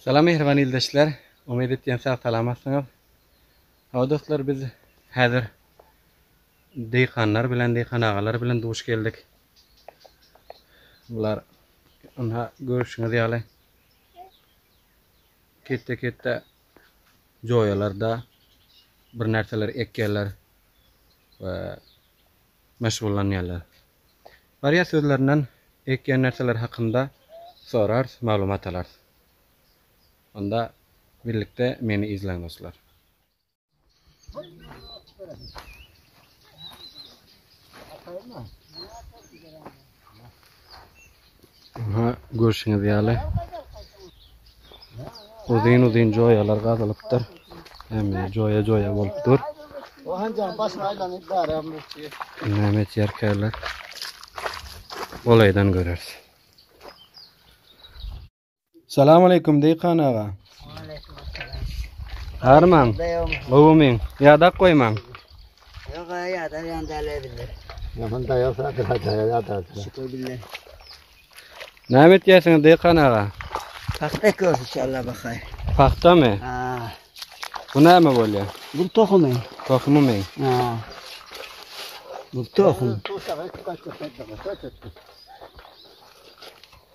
Salam mehriban ildeşler. Umyt etýän sag salamatsyňyz. Hawa dostlar biz häzir deýkanlar bilen deýkan agalar bilen duş geldik. Bular ynha görüşiňiz ýaly ketde ketde joýalarda bir närseler ekýärler we meşgullanýarlar. Barýas özlerinden ekýän närseleri hakynda sorars maglumat alars. Onda birlikde meni izleň dostlar. Aha, görşüňiz ýaly, uzyn-uzyn joýalar gazylypdyr. Hemme joýa-joýa bolup dur. O hanjaň başyny aýlanyp barýan bolupdy. Näme etýärkäler? Golaýdan göreris. Salam aleyküm Deykan aga. Arman. Gowumyň. Ýadak goýmaň. Yok ya ya da yan dale bile. Yaman da yok da da da ya da. Şükür bile. Näme etýärsiňiz Deykan aga? Pahta ekiyoruz inşallah bakay. Pahta mı? Ha. Bu näme bolýar? Bu tohumy. Tohumy mı? Ha. Bu tohum.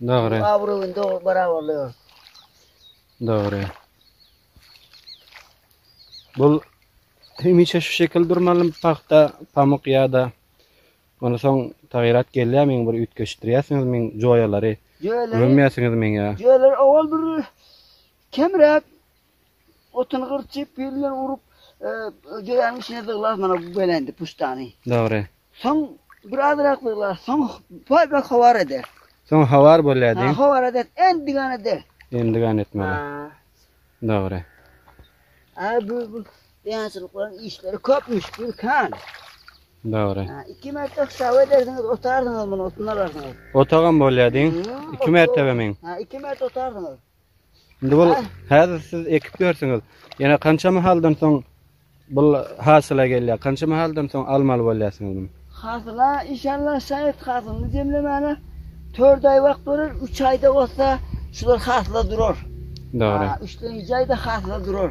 Dogry. Abraýyň dogry barabarlygy. Dogry. Bul hemişe şu şekil durmaly pagta, pamyk ýa-da Ondan soň taýyrat gelýär meň bir üýtgeşdirýärsiňiz meň joýalary. Gömýärsiňiz meň ýa. Jöler owal bir kemräk Otuny gyrçyp, pil bilen urup, joýanyň içine zyglar mana bu belendi puştany. Dogry. Soň birazrak zyglar, soň paýbak howar eder. Soň howar bolýar diýiň. Howar eder, endigan eder. Endigan etmeli. Dogry. A bu bu ýaşylyklaryň işleri köp müşkil kan. Dogry. Iki mertebe hesap ederdiňiz, otardyňyz muny, otuny alardyňyz. Otagam bolýar diýiň. Iki mertebe men. Ha, iki mertebe otardyňyz. Indi bul häzir siz ekip ýörsüňiz. Ýene kança mahaldan soň bul hasyla gelýär? Kança mahaldan soň almaly bolýarsyňyz muny? Hasyla inşallah şaýat hasylyny jemlemäne 4 aý wagt bolar, 3 aýda bolsa şular hasyla durar. Dogry. Üçlenji aýda hasyla durar.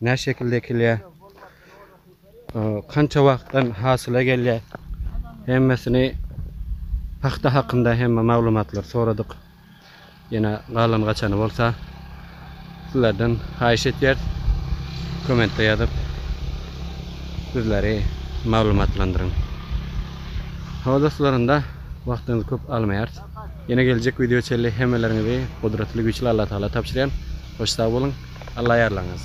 Näçe şekilde ekilýär? Kança wagtdan hasyla gelýär? Hemmesini pagta hakynda hemme maglumatlary soradyk. Ýene galan gaçany bolsa sizlerden haýyş etýäris. Kommentde ýazyp bizleri maglumatlandyryň. Hawa dostlar onda wagtyňyzy köp almaýarys. Ýene geljek wideo çenli hemmeleriňizi gudratly güýçli Allatagala tabşyrýan. Hoş sag boluň. Alla ýarlaňyz.